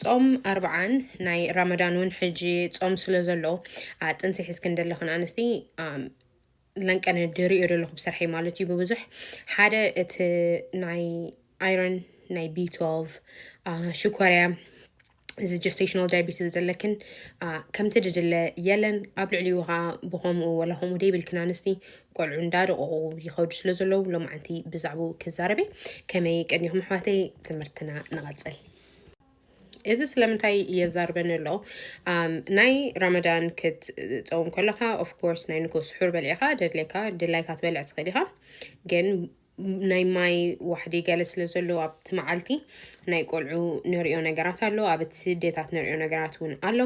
ጾም ኣርብዓን ናይ ራመዳን እውን ሕጂ ጾም ስለ ዘሎ ጥንሲ ሒዝክን ዘለኽን ኣንስቲ ለንቀነ ድሪኦ ዘለኹ ብስርሐይ ማለት እዩ ብብዙሕ ሓደ እቲ ናይ ኣይረን ናይ ቢ12 ሽኮርያ እዚ ጀስቴሽናል ዳያቤትስ ዘለክን ከምቲ ድድለ የለን ኣብ ልዕሊኡ ከዓ ብከምኡ ወላ ከምኡ ደይብልክን ኣንስቲ ቆልዑ እንዳደቐቑ ይኸዱ ስለ ዘለዉ ሎማዓንቲ ብዛዕባኡ ክዛረበ ከመይ ቀኒኹም ኣሕዋተይ ትምህርትና ንቐፅል እዚ ስለምንታይ የዛርበኒ ኣሎ ናይ ራመዳን ክትፀውም ከለካ ኦፍኮርስ ናይ ንጎ ስሑር በሊዕካ ደድሌካ ድላይካ ትበልዕ ትኽእል ኢኻ ግን ናይ ማይ ዋሕዲ ገለ ስለ ዘሎ ኣብቲ መዓልቲ ናይ ቆልዑ ንሪኦ ነገራት ኣሎ ኣብ እቲ ስደታት ንሪኦ ነገራት እውን ኣሎ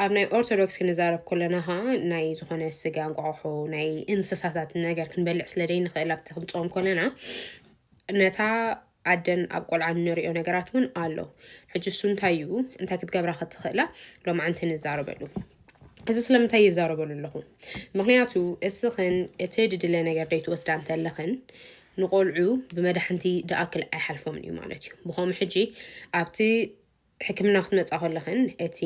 ኣብ ናይ ኦርቶዶክስ ክንዛረብ ኮለና ከዓ ናይ ዝኾነ ስጋ እንቋቑሖ ናይ እንስሳታት ነገር ክንበልዕ ስለ ዘይንኽእል ኣብቲ ክንፆም ኮለና ነታ ኣደን ኣብ ቆልዓን ንሪኦ ነገራት እውን ኣሎ ሕጂ እሱ እንታይ እዩ እንታይ ክትገብራ ክትኽእላ ሎማዓንቲ ንዛረበሉ እዚ ስለምንታይ ይዛረበሉ ኣለኹ ምክንያቱ እስኽን እቲ ድድለ ነገር ደይትወስዳ እንተለኽን ንቆልዑ ብመድሓንቲ ድኣክል ኣይሓልፎምን እዩ ማለት እዩ ብኸምኡ ሕጂ ኣብቲ ሕክምና ክትመፃ ከለኽን እቲ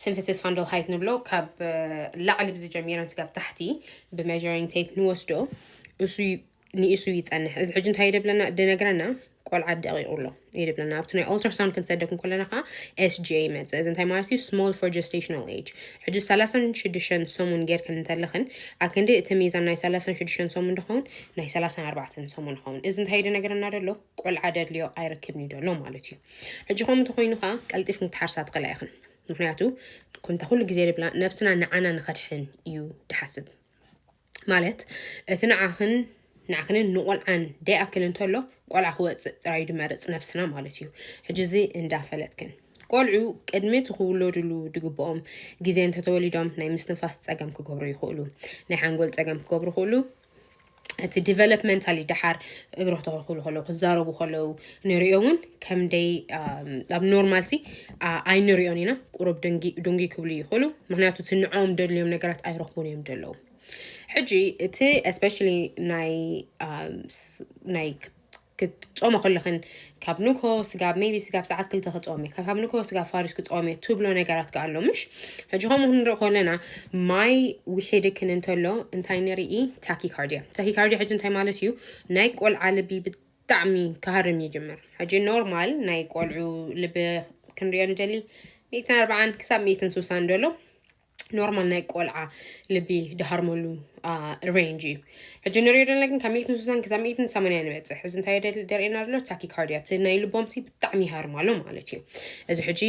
ስንፍስስ ፋንደል ሃይት ንብሎ ካብ ላዕሊ ብዝጀሚረን ስጋብ ታሕቲ ብመጀሪንግ ቴፕ ንወስዶ እሱ ንእሱ ይፀንሕ እዚ ሕጂ እንታይ ደብለና ድነግረና ቆልዓ ደቂቑ ኣሎ ይድብለና ኣብቲ ናይ ኦልትራሳውንድ ክንሰደኩም ከለና ከዓ ኤስጂኤ ይመፅእ እዚ እንታይ ማለት እዩ ስሞል ፎር ጀስቴሽናል ኤጅ ሕጂ ሰላሳን ሽዱሽተን ሰሙን ጌርክን እንተለኽን ኣብ ክንዲ እቲ ሚዛን ናይ ሰላሳን ሽዱሽተን ሰሙን ድኸውን ናይ ሰላሳን ኣርባዕተን ሰሙን ይኸውን እዚ እንታይ ደነግረና ደሎ ቆልዓ ደድልዮ ኣይረክብን እዩ ደሎ ማለት እዩ ሕጂ ከምኡ እንተኮይኑ ከዓ ቀልጢፍን ክትሓርሳ ትኽእላ ኢኽን ምክንያቱ ኩንታ ኩሉ ግዜ ንብላ ነብስና ንዓና ንኸድሕን እዩ ድሓስብ ማለት እቲ ንዓኽን ንዓኽንን ንቆልዓን ደይኣክል እንተሎ ቆልዓ ክወፅእ ጥራይ ድመርፅ ነብስና ማለት እዩ ሕጂ እዚ እንዳፈለጥክን ቆልዑ ቅድሚ እቲ ክውለድሉ ድግብኦም ግዜ እንተተወሊዶም ናይ ምስትንፋስ ፀገም ክገብሩ ይኽእሉ ናይ ሓንጎል ፀገም ክገብሩ ይኽእሉ እቲ ዲቨሎፕመንታሊ ደሓር እግሪ ክተኽልኩሉ ከለዉ ክዛረቡ ከለዉ ንሪኦ እውን ከምደይ ኣብ ኖርማልሲ ኣይንሪኦን ኢና ቁሩብ ድንጊ ክብሉ ይኽእሉ ምክንያቱ እቲ ንዕኦም ደድልዮም ነገራት ኣይረኽቡን እዮም ደለዉ ሕጂ እቲ ስፔሻሊ ናይ ክትጾሞ ከለኽን ካብ ንግሆ ስጋብ ሜቢ ስጋብ ሰዓት ክልተ ክጾም እየ ካብ ንግሆ ስጋብ ፋሪስ ክጾም እየ ትብሎ ነገራት ከ ኣሎ ምሽ ሕጂ ከምኡ ክንርኢ ከለና ማይ ውሒድክን እንተሎ እንታይ ንርኢ ታኪካርድያ ታኪካርድያ ሕጂ እንታይ ማለት እዩ ናይ ቆልዓ ልቢ ብጣዕሚ ክሃርም ይጅምር ሕጂ ኖርማል ናይ ቆልዑ ልቢ ክንሪኦ ንደሊ ሚእትን ኣርባዓን ክሳብ ሚእትን ስሳን ደሎ ኖርማል ናይ ቆልዓ ልቢ ድሃርመሉ ሬንጅ እዩ ሕጂ ንሪኦ ዘለና ግን ካብ ሚእትን ስሳን ክሳብ ሚእትን ሰማንያ ንበፅሕ እዚ እንታይ ደርእና ዘሎ ታኪካርዲያ እቲ ናይ ልቦምሲ ብጣዕሚ ይሃርማሎ ማለት እዩ እዚ ሕጂ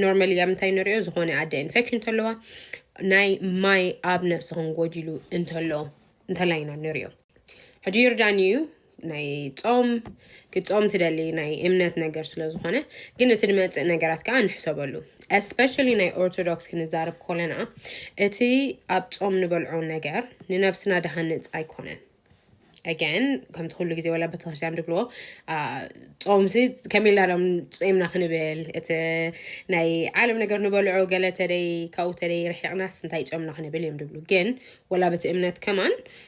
ኖርማሊ ኣብ ምንታይ ንሪኦ ዝኾነ ኣደ ኢንፌክሽን እንተለዋ ናይ ማይ ኣብ ነብስኽን ጎዲሉ እንተሎ እንተላይ ኢና ንሪኦ ሕጂ ይርዳኒ እዩ ናይ ፆም ክፆም ትደሊ ናይ እምነት ነገር ስለ ዝኾነ ግን እቲ ንመፅእ ነገራት ከዓ ንሕሰበሉ እስፔሻሊ ናይ ኦርቶዶክስ ክንዛረብ ኮለና እቲ ኣብ ፆም ንበልዖ ነገር ንነብስና ድሃንፅ ኣይኮነን ኣገን ከምቲ ኩሉ ግዜ ወላ ቤተክርስትያን ድብልዎ ፆምሲ ከመይ ኢልና ዶም ፆምና ክንብል እቲ ናይ ዓለም ነገር ንበልዖ ገለ ተደይ ካብኡ ተደይ ርሒቕናስ እንታይ ፆምና ክንብል እዮም ድብሉ ግን ወላ በቲ እምነት ከማን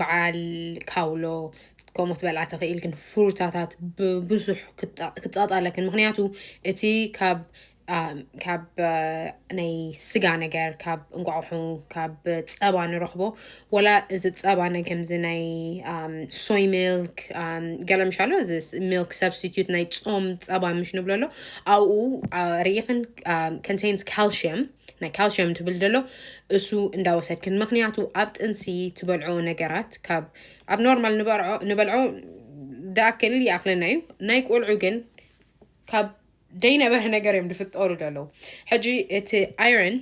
በዓል ካውሎ ከምኡ ትበልዓ ተኽኢልክን ፍሩታታት ብብዙሕ ክፃጣለክን ምክንያቱ እቲ ካብ ካብ ናይ ስጋ ነገር ካብ እንቋቑሑ ካብ ፀባ ንረኽቦ ወላ እዚ ፀባ ነ ከምዚ ናይ ሶይ ሚልክ ገለ ምሽ ኣሎ እዚ ሚልክ ሰብስቲቱት ናይ ፆም ፀባ ምሽ ንብሎ ኣሎ ኣብኡ ርኢኽን ኮንቴንስ ካልሽየም ናይ ካልሽየም ትብል ደሎ እሱ እንዳወሰድክን ምክንያቱ ኣብ ጥንሲ ትበልዖ ነገራት ካብ ኣብ ኖርማል ንበልዖ ደኣክል ይኣክለና እዩ ናይ ቆልዑ ግን ካብ ደይነበረ ነገር እዮም ዝፍጠሩ ደለዉ ሕጂ እቲ ኣይረን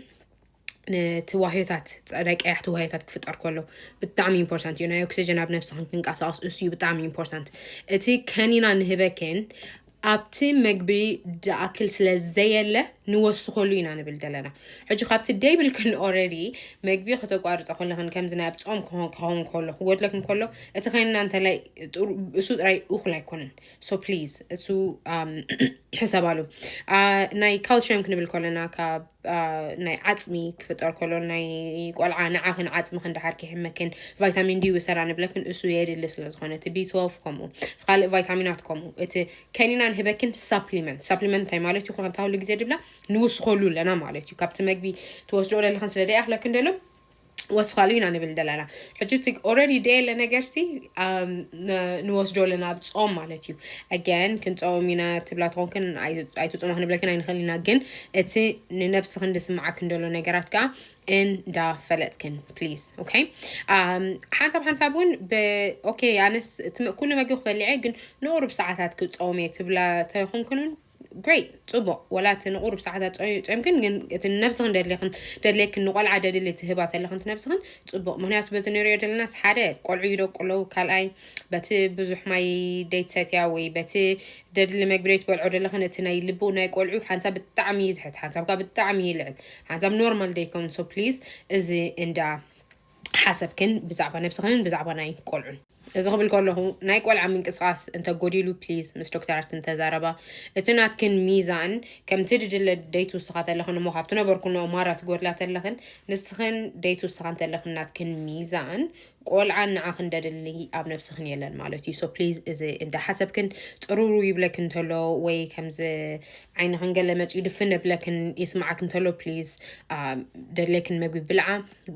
ነቲ ዋህዮታት ፀዳይ ቀያሕቲ ዋህዮታት ክፍጠር ከሎ ብጣዕሚ ኢምፖርታንት እዩ ናይ ኦክሲጅን ኣብ ነብስክን ክንቀሳቀስ እሱ እዩ ብጣዕሚ ኢምፖርታንት እቲ ከኒና ንህበክን ኣብቲ መግቢ ድኣክል ስለ ዘየለ ንወስኸሉ ኢና ንብል ዘለና ሕጂ ካብቲ ደይብልክን ኦረዲ መግቢ ከተቋርፀ ከለክን ከምዚ ናይ ኣብ ፆም ክኸውን ከሎ ክጎድለክን ከሎ እቲ ከንና እንተላይ እሱ ጥራይ እኩል ኣይኮነን ሶ ፕሊዝ እሱ ሕሰባሉ ናይ ካልሽየም ክንብል ከለና ካብ ናይ ዓፅሚ ክፍጠር ከሎ ናይ ቆልዓ ንዓኽን ዓፅምኽን ድሓር ክሕመክን ቫይታሚን ዲ ውሰራ ንብለክን እሱ የድሊ ስለ ዝኾነ እቲ ቢትወልፍ ከምኡ እቲ ካልእ ቫይታሚናት ከምኡ እቲ ከኒና ንህበክን ሳፕሊመንት ሳፕሊመንት እንታይ ማለት እዩ ከምታ ኩሉ ግዜ ድብላ ንውስኸሉ ኣለና ማለት እዩ ካብቲ መግቢ ትወስድኦ ዘለኽን ስለ ደይኣኽለክን ደሎ ወስኻሉ ኢና ንብል ዘለና ሕጂ እቲ ኦረዲ ደየለ ነገርሲ ኣም፣ ን- ንወስዶ ኣለና ኣብ ፆም ማለት እዩ ኣገን ክንፀውም ኢና ትብላ ትኾንክን ኣይ- ኣይትፅሙ ክንብለክን ኣይንኽእል ኢና ግን እቲ ንነብስኽን ዝስምዓክን ዘሎ ነገራት ከዓ እንዳፈለጥክን ፕሊዝ ኦኬ ኣም፣ ሓንሳብ ሓንሳብ እውን ብ- ኦኬ ኣነስ እቲ ም- ኩሉ መግቢ ክበልዕ እየ ግን ንቑሩብ ሰዓታት ክፀውም እየ ትብላ ተኾንክን እውን Great ጽቡቕ ወላ እቲ ንቑሩብ ሰዓታት ጾይ- ጾይምክን ግን እቲ ንነብስኽን ደድልኽን ደድልየክን ንቆልዓ ደድሊ ትህባ ተለኽን ትነብስኽን ጽቡቕ ምክንያቱ በዚ ንሪኦ ደለናስ ሓደ ቆልዑ ይደቁ ኣለዉ ካልኣይ በቲ ብዙሕ ማይ ደይትሰትያ ወይ በቲ ደድሊ መግቢ ደይትበልዖ ደለኽን እቲ ናይ ልብኡ ናይ ቆልዑ ሓንሳብ ብጣዕሚ ይትሕት ሓንሳብ ከኣ ብጣዕሚ ይልዕል ሓንሳብ ኖርማል ደይከውን so please እዚ እንዳ ሓሰብክን ብዛዕባ ነብስኽንን ብዛዕባ ናይ ቆልዑን። እዚ ክብል ከለኹ ናይ ቆልዓ ምንቅስቃስ እንተ ጎዲሉ please ምስ ዶክተራትክን ተዛረባ እቲ ናትክን ሚዛን ከምቲ ድድለ ደይት ውስኻ ተለኽን እሞ ካብቲ ነበርኩኖ ማራ ትጎድላ ተለኽን ንስኽን ደይት ውስኻ እንተለኽን ናትክን ሚዛን ቆልዓ ንዓኽን ደድሊ ኣብ ነብስኽን የለን ማለት እዩ so please እዚ እንዳ ሓሰብክን ጥሩሩ ይብለክን ተሎ ወይ ከምዚ ዓይንኽን ገለ መጽዩ ድፍን እብለክን ይስምዓክን ተሎ please ደድለክን መግቢ ብልዓ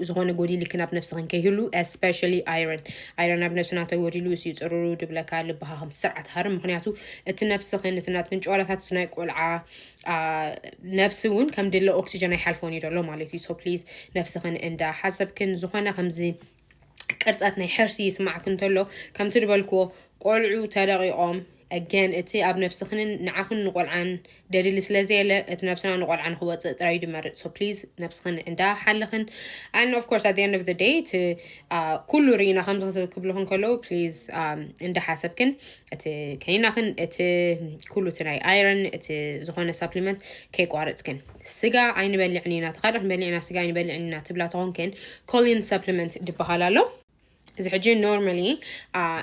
ዝኾነ ጎዲልክን ኣብ ነብስኽን ከይህሉ ስፔሻሊ ኣይረን ኣይረን ኣብ ነብስና ተጎዲሉ እስዩ ፅሩሩ ድብለካ ልብኻ ከም ስርዓት ሃርም ምክንያቱ እቲ ነብስኽን እቲ ናትክን ጨዋታታት እቲ ናይ ቆልዓ ነብሲ እውን ከም ድለ ኦክሲጀን ኣይሓልፎን እዩ ደሎ ማለት እዩ ሶ ፕሊዝ ነብስኽን እንዳ ሓሰብክን ዝኾነ ከምዚ ቅርፀት ናይ ሕርሲ ይስማዕክ እንተሎ ከምቲ ድበልክዎ ቆልዑ ተለቂቖም Again እቲ ኣብ ነብስኽንን ንዓኽን ንቆልዓን ደሊሊ ስለ ዘየለ እቲ ነብስና ንቆልዓ ንኽወጽእ ጥራይ እዩ ድመርጽ so please ነብስኽን እንዳ ሓለኽን and of course at the end of the day እቲ ኩሉ ርኢና ከምዚ ክብልኽን ከለዉ please እንዳ ሓሰብክን እቲ ከኒናኽን እቲ ኩሉ እቲ ናይ iron እቲ ዝኾነ supplement ከይቋረጽክን ስጋ ኣይንበልዕን ኢና ተኻድኽ ንበልዕ ኢና ስጋ ኣይንበልዕን ኢና ትብላ ተኾንክን collion supplement ድበሃል ኣሎ እዚ ሕጂ ኖርማሊ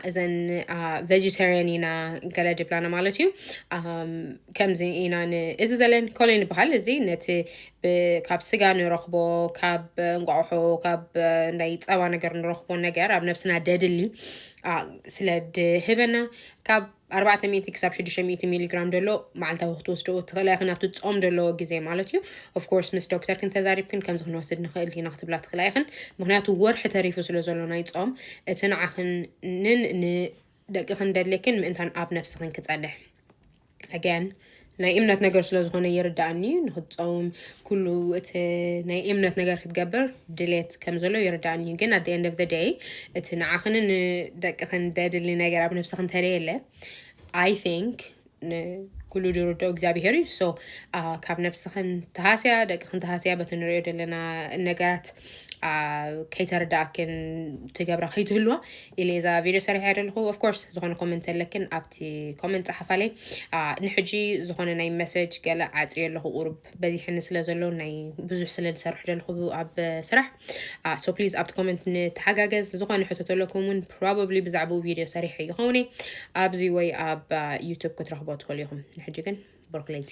እዘን ቨጅተርያን ኢና ገለ ድብላና ማለት እዩ ከምዚ ኢና እዚ ዘለን ኮሌን ይበሃል እዚ ነቲ ካብ ስጋ ንረኽቦ ካብ እንቋቑሖ ካብ ናይ ፀባ ነገር ንረኽቦ ነገር ኣብ ነብስና ደድሊ ስለ ድህበና ካብ ኣርባዕተ ሚእቲ ክሳብ ሽዱሽተ ሚእቲ ሚሊግራም ደሎ መዓልታዊ ክትወስድኦ ትኽእላ ኢኽን ኣብቲ ጾም ደለዎ ግዜ ማለት እዩ ኦፍኮርስ ምስ ዶክተርክን ተዛሪብክን ከምዚ ክንወስድ ንኽእል ኢና ክትብላ ትኽእላ ኢኽን ምክንያቱ ወርሒ ተሪፉ ስለ ዘሎ ናይ ጾም እቲ ንዓኽንን ንደቅኽን ደሌክን ምእንታን ኣብ ነብስኽን ክጸንሕ ኣገን ናይ እምነት ነገር ስለ ዝኾነ ይርዳእኒ ንክትፀውም ኩሉ እቲ ናይ እምነት ነገር ክትገብር ድሌት ከም ዘሎ ይርዳእኒ ግን ኣደ ኤንድ ኦፍ ደይ እቲ ንዓኽን ንደቅኽን ደድሊ ነገር ኣብ ነብስኽ እንተደይ የለ ኣይ ቲንክ ኩሉ ድርዶ እግዚኣብሄር እዩ ሶ ካብ ነብስኽን ተሃስያ ደቅኽን ተሃስያ በቲ ንሪኦ ዘለና ነገራት ከይተረዳእክን ትገብራ ከይትህልዋ ኢለ እዛ ቪድዮ ሰሪሐ ዘለኹ ኦፍኮርስ ዝኾነ ኮመንት ኣለክን ኣብ እቲ ኮመንት ጸሓፋለይ ንሕጂ ዝኾነ ናይ መሰጅ ገለ ዓጽዮ ኣለኹ ቁሩብ በዚሕኒ ስለ ዘሎ ናይ ብዙሕ ስለ ዝሰርሑ ዘለኹ ኣብ ስራሕ ሶ ፕሊዝ ኣብቲ ኮመንት ንተሓጋገዝ ዝኾነ ሕቶ ተለኩም እውን ፕሮባብሊ ብዛዕባኡ ቪድዮ ሰሪሐ ይኸውን ኣብዚ ወይ ኣብ ዩቱብ ክትረኽቦ ትኽእሉ ኢኹም ንሕጂ ግን ብሮክለይቲ